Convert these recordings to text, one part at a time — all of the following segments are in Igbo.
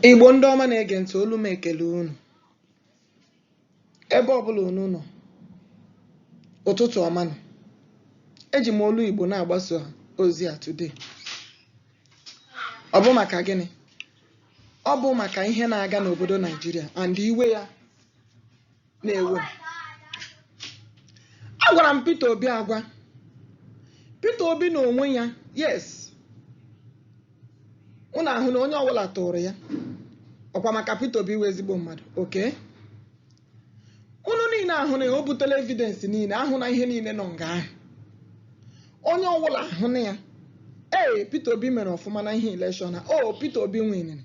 Igbo ndị ọma na-ege ntị olu m ekele unu ebe ọbụla unu nọ ụtụtụ ọma nụ eji m olu Igbo na-agbasa ozi a today ọ bụ maka gịnị ọ bụ maka ihe na-aga n'obodo Naijiria and iwe ya na-ewe agwara m Peter Obi agwa Peter Obi na onwe ya yes unu ahụ na onye ọbụla tụrụ ya ọ kwa maka Peter Obi wụ ezigbo mmadụ okay unu niile ahụna ya o butela evidence niile ahụ na ihe niile nọ nga ahụ onye ọbụla ahụna ya ee Peter Obi mere ọfụma na ihe elekshọn a ọ Peter Obi winiri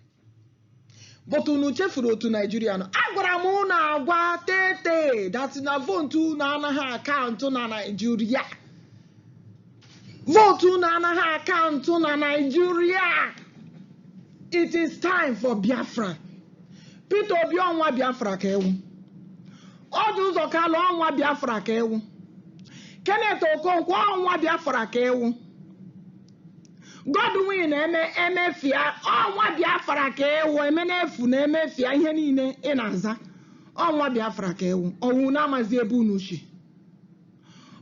but unu chefuru otu naijiria nọ agwara m unu agwa tete that na vootu unu anaghị akaụntụ na naijiria vootu unu anaghị akaụntụ na naijiria it is time for biafra peter obi ọ nwa biafra ka ị wụ orji uzor kalu ọ nwa biafra ka ị wụ kenneth okonkwo ọ nwa biafra ka ị wụ Godwin eme Emefia ọ nwa Biafra ka ị wụ eme n'efu na emefia ihe niile ị na-aza ọ nwa Biafra ka ị wụ ọ wụ unu amazi ebe unu si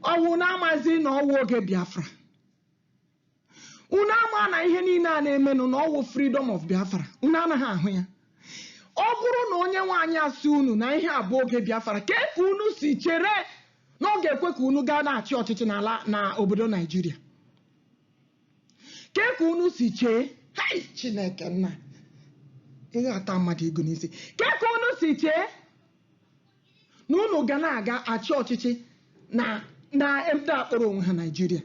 ọ wụ unu amazi na ọ wụ oge Biafra unu ama na ihe niile a na-emenụ na ọ wụ freedom of Biafra unu anaghị ahụ ya ọ bụrụ na onye nwe anyị asị unu na ihe a bụ oge Biafra kee ka unu si chere na ọ ga-ekwe ka unu gaa na-achị ọchịchị n'ala na obodo naijiria kee ka unu si chee hai chineke nna ihe ata mmadụ ego n'isi kee ka unu si chee na unu ga na-aga achị ọchịchị na na ndị kpọrọ onwe ha naijiria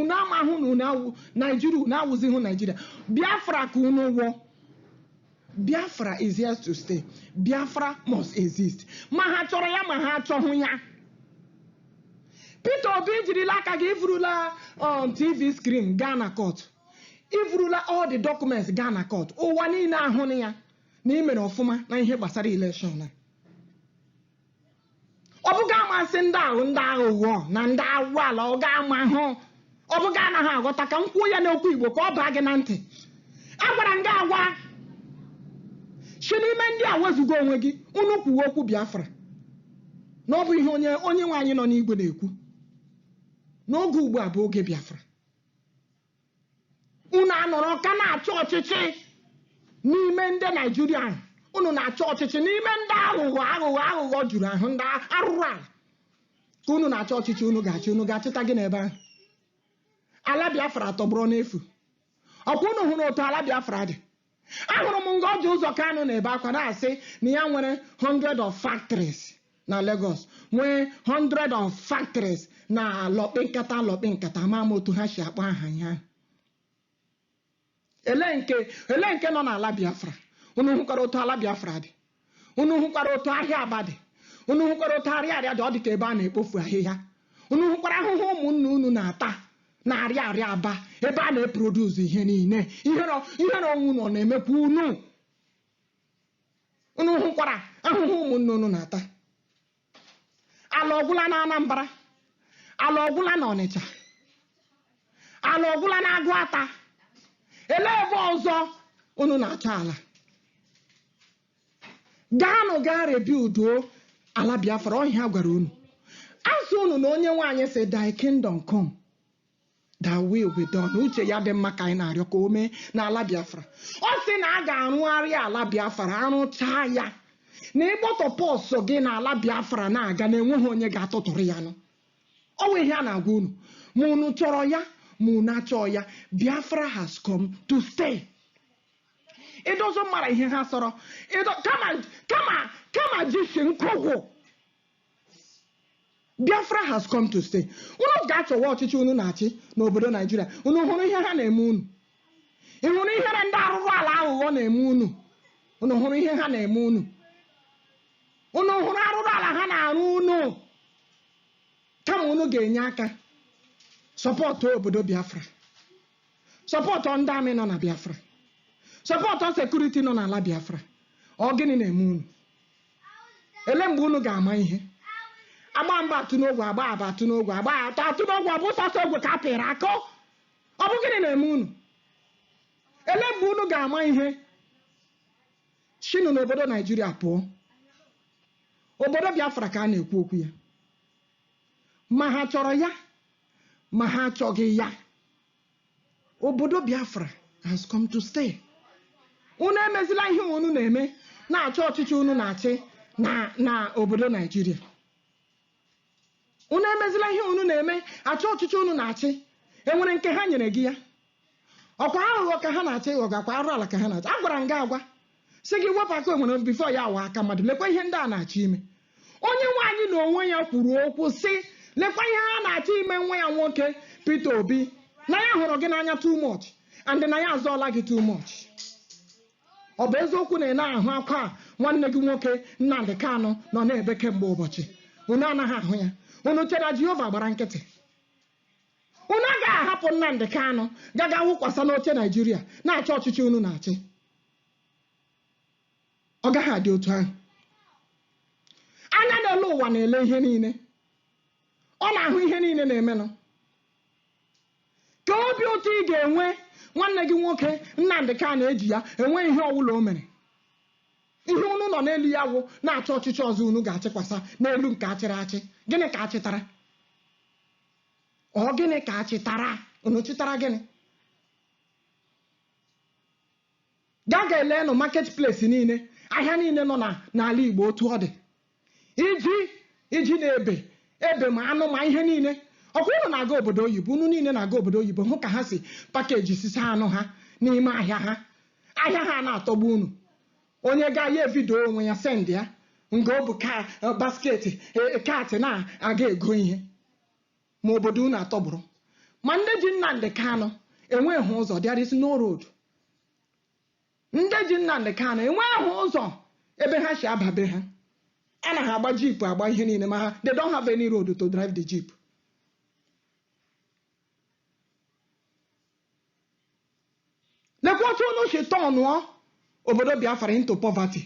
unu amahụ na unu awụ naijiria unu awụzighị naijiria biafra ka unu wụ o Biafra is here to stay. Biafra must exist. Ma ha chọrọ ya ma ha achọghị ya. Peter Obi i jirila aka gị i vurula um, TV screen gaa na court. I vurula all the documents gaa na court. Ụwa niile ahụna ya na i mere ọfụma na ihe gbasara election a. ọ bụ gị ama sị ndị a wụ ndị aghụghọ na ndị arụ ala ọ gị amahụ ọ bụ gị anaghị aghọta ka m kwuo ya n'okwu igbo ka ọ baa gị na ntị agwara m gị agwa si n'ime ndị a wezuga onwe gị unu kwuwe okwu biafra na ọ bụ ihe onye nwe anyị nọ n'igwe na-ekwu na oge ugbu a bụ oge biafra unu anọrọ ka na-achọ ọchịchị n'ime ndị nigeria unu na-achọ ọchịchị n'ime ndị aghụghọ juru ahụ ndị arụrụ ala ka unu na-achọ ọchịchị unu ga unu ga-achịta gịnị ebe ahụ ala biafra tọgbọrọ n'efu ọkwa unu hụrụ otu ala biafra dị Ahụrụ m nga Orji Ụzọ Kanu na-ebe akwa na-asị na ya nwere hundred of factories na Lagos, nwee hundred of factories na lọkpị nkata lọkpị nkata, ama m otu ha si akpọ aha ya. Ele ele nke nọ n'ala Biafra? Unu hụkwara otu ala Biafra dị? unu hụkwara otu ahịa aba dị unu hụkwara otu ariaria dị ọ dị ka ebe a na-ekpofu ahịhịa unu hụkwara ahụhụ ụmụnna unu na-ata na ariaria aba ebe a na-eproduce ihe niile ihere onwe unu ọ na-emekwa unu unu hụkwara ahụhụ ụmụnna unu na-ata ala ọ gwụla na anambra ala ọ gwụla na ọnịcha ala ọ gwụla na aguata ele ebe ọzọ unu na-achọ ala gaanụ gaa rebuilduo ala biafra ọ ihe a gwara unu a sị unu na onyenwe anyị sị thy kingdom come Thy will be done. Uche ya dị mma ka anyị na-arịọ ka o mee n'ala Biafra. Ọ sị na a ga-arụgharị ala Biafra arụchaa ya na ị gbọtọ purse gị na ala Biafra na-aga na enweghị onye ga-atụtụrụ ya nụ. Ọ bụ ihe a na-agwa unu ma unu chọrọ ya ma unu achọọ ya Biafra has come to stay. It doesn't matter ihe ha sọrọ kama jisi nkụgwụ Biafra has come to stay. Unu ga-achọwa ọchịchị unu na-achị n'obodo Nigeria. Unu hụrụ ihe ha na-eme unu? Ị hụrụ ihere ndị arụrụ ala aghụghọ na-eme unu? Unu hụrụ ihe ha na-eme unu? Unu hụrụ arụrụ ala ha na-arụ unu? Kama unu ga-enye aka support obodo Biafra, support ndị army nọ na Biafra, support security nọ n'ala Biafra. Ọ gịnị na-eme unu? ele mgbe unu ga-ama ihe a gbaa mbụ atụ n'ogwe a gbaa abụọ atụ n'ogwe a gbaa atọ atụ n'ogwe ọ bụ sọsọ ogwe ka a pịrị akụ ọ bụ gịnị na-eme unu ele mgbe unu ga-ama ihe shinụ n'obodo nigeria pụọ obodo biafra ka a na-ekwu okwu ya ma ha chọrọ ya ma ha achọghị ya obodo biafra has come to stay unu emezila ihe unu na-eme na-achọ ọchịchị unu na-achị na obodo nigeria unu emezila ihe unu na-eme achọ ọchịchị unu na-achị enwere nke ha nyere gị ya ọkwa aghụghọ ka ha na-achọ ịghọ gị ọkwa arụ ala ka ha na-achị agwara m gị agwa sị gị wepụ aka enwe na before ya aghọọ aka mmadụ lekwa ihe ndị a na-achọ ime onye nwe anyị na onwe ya kwuru okwu sị lekwa ihe ha na-achọ ime nwa ya nwoke Peter Obi na ya hụrụ gị n'anya too much and na ya azọọla gị too much ọ bụ eziokwu na ị na-ahụ akwa nwanne gị nwoke Nnamdi Kanu nọ na-ebe kemgbe ụbọchị unu anaghị ahụ ya unu chere na Jehova gbara nkịtị Unu agaghị ahapụ Nnamdi Kanu gaga wụkwasa n'oche Naijiria na-achị ọchịchị unu na-achị. Ọ gaghị adị otu ahụ. Anya na-ele ụwa na-ele ihe niile. Ọ na-ahụ ihe niile na-emenụ. Ka obi ụtọ ị ga-enwe nwanne gị nwoke Nnamdi Kanu e ji ya enwe ihe ọwụla o mere. Ihe unu nọ n'elu ya wụ na-achọ ọchịchị ọzọ unu ga-achịkwasa n'elu nke a chịrị achị. Gịnị ka a chịtara? ọ gịnị ka a chịtara unu chịtara gịnị gaa ga elenụ market place niile ahịa niile nọ na- n'ala igbo otu ọ dị ijiji na-ebe ebe ma anụ ma ihe niile ọkwa unu na-aga obodo oyibo unu niile na-aga obodo oyibo hụ ka ha si package sisa anụ ha n'ime ahịa ha ahịa ha na-atọgbu unu Onye gaa ya evideo onwe ya send ya nga o bu ka basket cart na-aga ego ihe ma obodo unu atọgbọrọ ma ndị ji Nnamdi Kanu enweghị ụzọ there is no road ndị ji Nnamdi Kanu enweghị ụzọ ebe ha si aba be ha a na ha agba jeep agba ihe niile ma ha they don't have any road to drive the jeep lekwa otu unu si turnụọ obodo biafra into poverty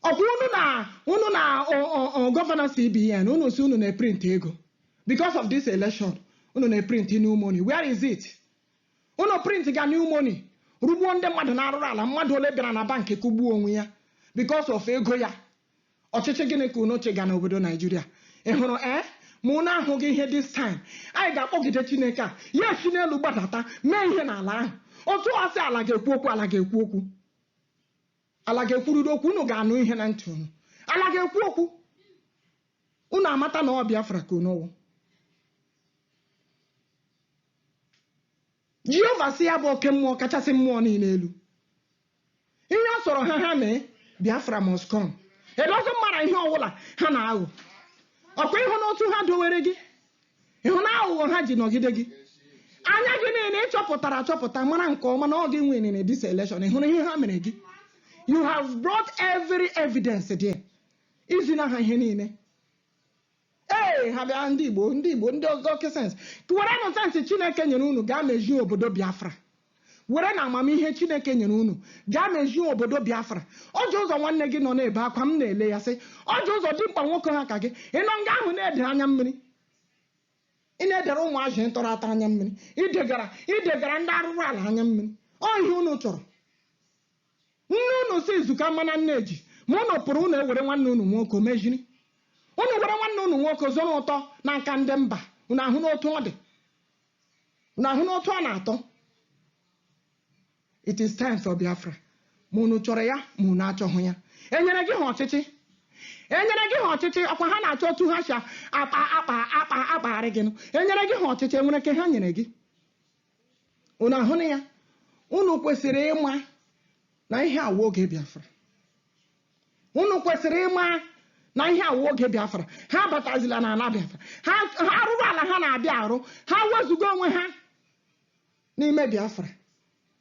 ọkwa unu na unu na ọ- ọ- ọ governor cbn unu sị unu na-eprint ego because of this election unu na-eprint new money where is it unu print ga new money rụgbuo ndị mmadụ n'arụrụala mmadụ ole bịara na bankị kụgbuo onwe ya because of ego ya ọchịchị gịnị ka unu chịga n'obodo naijiria ị hụrụ ee ma unu ahụghị ihe this time anyị ga-akpọgide chineke a ya esi n'elu gbadata mee ihe n'ala ahụ otu ọ sị ala ga-ekwu okwu ala ga-ekwu okwu ala ga-ekwurịrị okwu unu ga-anụ ihe na ntị unu ala ga-ekwu okwu unu amata na ọ biafra ka unu wụ Jehova sị ya bụ oke mmụọ kachasị mmụọ niile elu, Ihe ọ sọrọ ha ha mee, Biafra must come. It doesn't matter ihe ọbụla ha na-aghọ. Ọkwa ị hụna otu ha dowere gị, ị hụna aghụghọ ha ji nọgide gị. Anya gị niile ị chọpụtara achọpụta mara nke ọma na ọ gị nwere na this election, ị hụrụ ihe ha mere gị. You have brought every evidence there. I zina ha ihe niile. Ee, ha bịa ndị Igbo, ndị Igbo, ndị ọzọ oke sensị. Werenụ sensị Chineke nyere unu gaa mezie obodo Biafra. Werenụ amamihe Chineke nyere unu gaa mezie obodo Biafra. Orji Uzor nwanne gị nọ na-ebe akwa m na-ele ya sị, Orji Uzor dimkpa nwoke ha ka gị. Ị nọ nga ahụ na-ede anya mmiri. Ị na-edere ụmụazị ị tọrọ atọ anya mmiri. Idegara idegara ndị arụrụ ala anya mmiri. Ọ ihe unu chọrọ. Nne unu sị izu ka mma na nneji ma unu pụrụ unu ewere nwanne unu nwoke meziri. Unu were nwanne unu nwoke zụrụ ụtọ n'aka ndị mba, unu ahụna otu ọ dị? Unu ahụna otu ọ na-atọ? It is time for Biafra. Ma unu chọrọ ya ma unu achọghị ya. E nyere gị ha ọchịchị? E nyere gị ha ọchịchị? Ọkwa ha na-achọ otu ha si akpa akpa akpa akpagharị gị nụ. E nyere gị ha ọchịchị? E nwere nke ha nyere gị? unu ahụna ya unu kwesịrị ịma na ihe a wụ oge biafra unu kwesịrị ịma na ihe a wụ oge biafra ha abatazila n'ala biafra ha ha arụrụ ala ha na-abịa arụ ha wezuga onwe ha n'ime biafra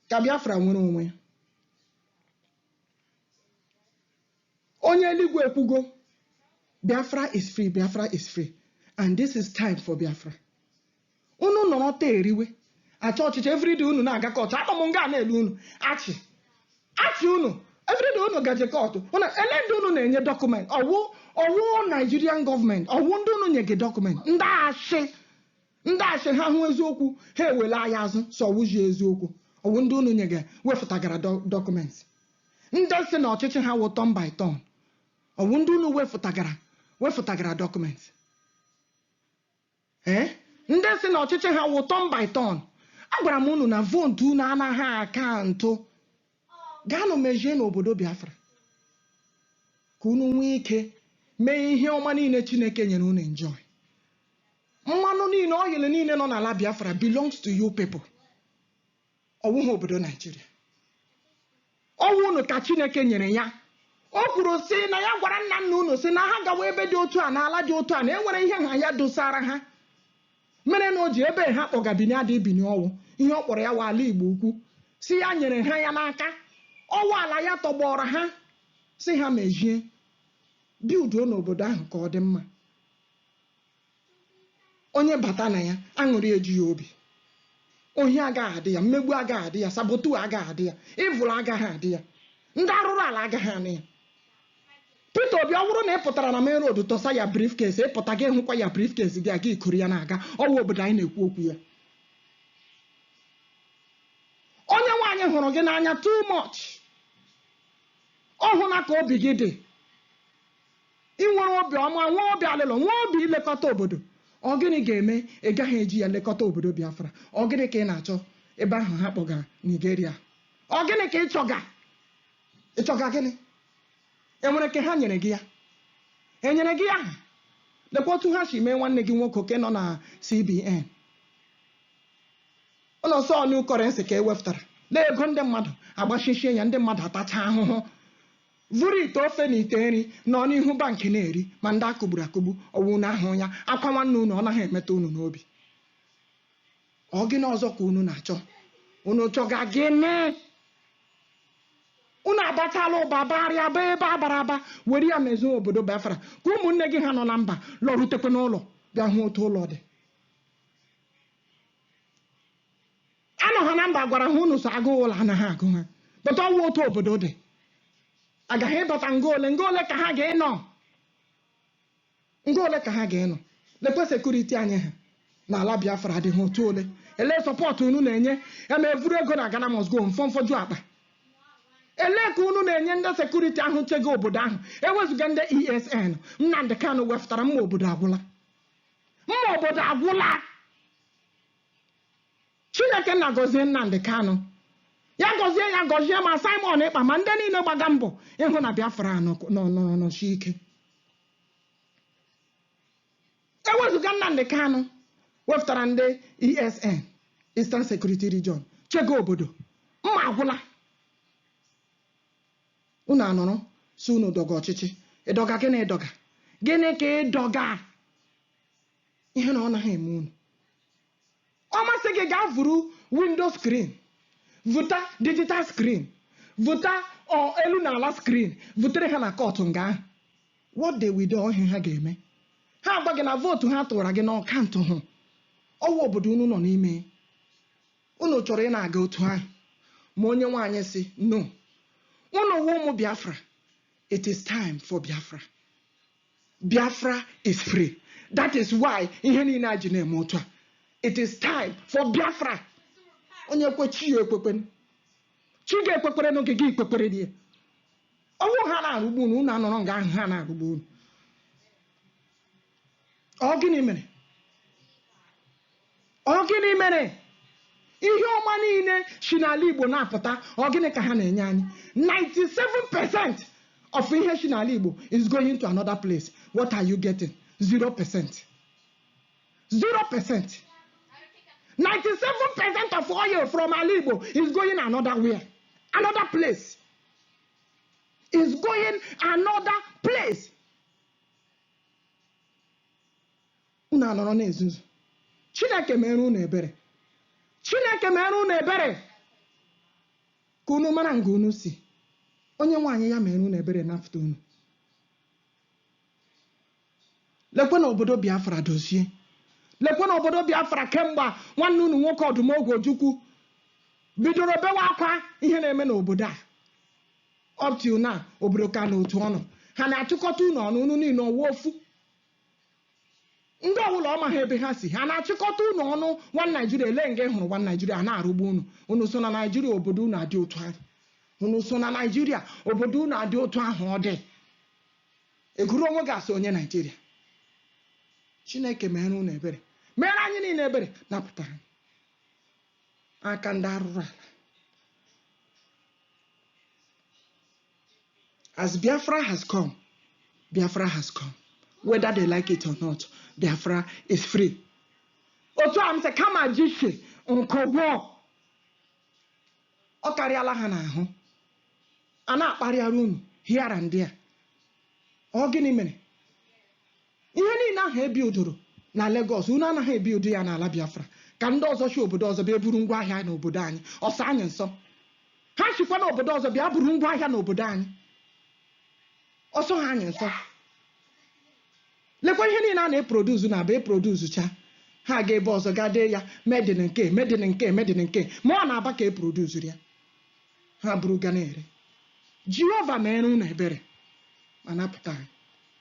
ka biafra nwere onwe ya onye eluigwe ekwugo biafra is free biafra is free and this is time for biafra unu nọrọ taa eriwe achọ ọchịchị everyday unu na-aga kọtụ anọ m nga na-ele unu achị achị unu everyday unu gaje kọtụ unu ele ndị unu na-enye dọkụment ọ wụ ọ wụ Nigerian gọọmenti ọ wụ ndị unu nyega dọkụment ndị achị ndị achị ha hụ eziokwu ha ewele anya azụ sị ọ wụghị eziokwu ọ wụ ndị unu nyega wefụtagara dọ- dọkụmentị ndị sị na ọchịchị ha wụ turn by turn ọ wụ ndị unu wefụtagara wefụtagara dọkụmentị Ee, ndị sị na ọchịchị ha wụ turn by turn, agwara m unu na vootu unu anaghị akaụntụ. Gaanụ mezienụ obodo Biafra ka unu nwee ike mee ihe ọma niile Chineke nyere unu enjoy. Mmanụ niile, oil niile nọ n'ala Biafra belongs to you people. ọ wụghị obodo Naijiria ọ wụ unu ka Chineke nyere ya o kwuru sị na ya gwara nna nna unu sị na ha gawa ebe dị otu a n'ala dị otu a na e nwere ihe ha ya dosara ha mere na o ji ebe ha kpọga bini ada ibini ọ wụ ihe ọ kpọrọ ya wụ ala Igbo ukwu sị ya nyere ha ya n'aka ọ wụ ala ya tọgbọrọ ha sị ha mezie bilduo n'obodo ahụ ka ọ dị mma onye bata na ya aṅụrị eju ya obi ohi agaghị adị ya mmegbu agaghị adị ya sabotu agaghị adị ya evil agaghị adị ya ndị arụrụ ala agaghị anọ ya Peter Obi ọ bụrụ na ị pụtara na main road tọsa ya briefcase ị pụta gị hụkwa ya briefcase gị aga ikuru ya na-aga ọ wụ obodo anyị na-ekwu okwu ya Onyenwe anyị hụrụ gị n'anya too much ọ hụna ka obi gị dị I nwere obi ọma, nwee obi alịlọ, nwee obi ilekọta obodo, ọ gịnị ga-eme ị gaghị eji ya lekọta obodo Biafra? Ọ gịnị ka ị na-achọ ebe ahụ ha kpọgara Nigeria? Ọ gịnị ka ị chọga? Ị chọga gịnị? E nwere nke ha nyere gị ya? E nyere gị ya? Lekwa otu ha si mee nwanne gị nwoke nke nọ na CBN. Unu sị new currency ka e wepụtara. Lee ego ndị mmadụ agbachishie ya, ndị mmadụ atacha ahụhụ. vuru ite ofe na ite nri nọ n'ihu bank na-eri, ma ndị a kụgburu akụgbu, ọ wụ unu ahụghị ya? Akwa nwanne unu ọ naghị emetụ unu n'obi? Ọ gịnị ọzọ ka unu na-achọ? Unu chọga gịnị? Unu abatala ụba barịa ba ebe a bara aba were ya mezie obodo Biafra ka ụmụnne gị ha nọ na mba lọrutekwe n'ụlọ bịa hụ otu ụlọ dị. anọ ha na mba gwara ha unu sị agụụ ụlọ anaghị agụ ha but ọ wụ otu obodo dị agaghị ịbata nga ole nga ole ka ha ga-enọ nga ole ka ha ga-enọ lekwe security anyị ha na ala Biafra adịghị otu ole ele support unu na-enye eme e vuru ego na Ghana must go mfọmfọju akpa ele ka unu na-enye ndị security ahụ chego obodo ahụ ewezụga ndị ESN Nnamdi Kanu wepụtara mma obodo agwụla mma obodo agwụla Chineke nna gọzie Nnamdi Kanu. Ya gọzie ya gọzie ma Simon Ekpa ma ndị niile gbaga mbọ ịhụ na Biafra a nọ- nọ- nọrọ nọsie ike. Ewezụga Nnamdi Kanu wepụtara ndị ESN, Eastern Security Region, chego obodo. Mma agwụla. Unu anọrọ sị unu dọga ọchịchị. Ịdọga gịnị ịdọga? Gịnị ka ịdọga? Ihere ọ naghị eme unu. ọ masị gị gaa vuru window screen vuta digital screen vuta elu na ala screen vutere ha na court nga ahụ what they will do ọ ihe ha ga-eme ha agwa gị na vote ha tụwara gị na ọ countụhụ ọ wụ obodo unu nọ n'ime unu chọrọ ịna-aga otu ahụ ma Onyenweanyị sị no unu wụ ụmụ Biafra it is time for Biafra Biafra is free. That is why ihe niile a ji na-eme otu a. It is time for Biafra. Onye kwe chi ya ekwekwen. Chi gị ekwekwere n'oge gị ikwekwere dị ya. Ọ wụ ha na-arụgbu unu, unu anọrọ nga ahụ ha na-arụgbu unu. Ọ gịnị mere? Ọ gịnị mere ihe ọma niile si n'ala Igbo na-apụta? Ọ gịnị ka ha na-enye anyị? 97 percent of ihe si n'ala Igbo is going to another place. What are you getting? 0 percent. 0 percent. 97 percent of oil from ala Igbo is going another where? Another place. Is going another place. Unu anọrọ na-ezuzu. Chineke meere unu ebere. Chineke meere unu ebere ka unu mara nga unu si. Onye nwe anyị ya meere unu ebere napụta unu. Lekwe na obodo Biafra dozie. Lekwe na obodo Biafra kemgbe nwanne unu nwoke Odumegwu Ojukwu bidoro bewa akwa ihe na-eme n'obodo a. Up till now, obodo ka nọ otu ọ nọ. Ha na-achịkọta unu ọnụ, unu niile ọ wụ ofu. Ndị ọbụla ọ maghị ebe ha si, ha na-achịkọta unu ọnụ one Nigeria, elee nga ị hụrụ one Nigeria, a na-arụgbu unu. Unu so na Nigeria, obodo unu adị otu ahụ. Unu so na Nigeria, obodo unu adị otu ahụ ọ dị. Ị gụrụ onwe gị as onye Nigeria. Chineke meere unu ebere. Meere anyị niile ebere, napụta anyị n'aka ndị arụrụ ala. as biafra has come biafra has come whether they like it or not biafra is free otu a m sị kama ji si nkọgwọ ọ karịala ha n'ahụ a na-akparịara unu here and there ọ gịnị mere Ihe niile ahụ e bildụrụ na Lagos, unu anaghị ebildụ ya n'ala Biafra, ka ndị ọzọ si obodo ọzọ bịa buru ngwa ahịa n'obodo anyị, ọ sọ anyị nsọ. Ha sikwa n'obodo ọzọ bịa buru ngwa ahịa n'obodo anyị, ọ sọghị anyị nsọ. Lekwa ihe niile a na-eproduzu n'Aba eproduzucha, ha aga ebe ọzọ gaa dee ya made in nke, made in nke, made in nke, ma ọ n'Aba ka eproduzuru ya, ha buru gaa na-ere. Jehova meere unu ebere ma napụta anyị.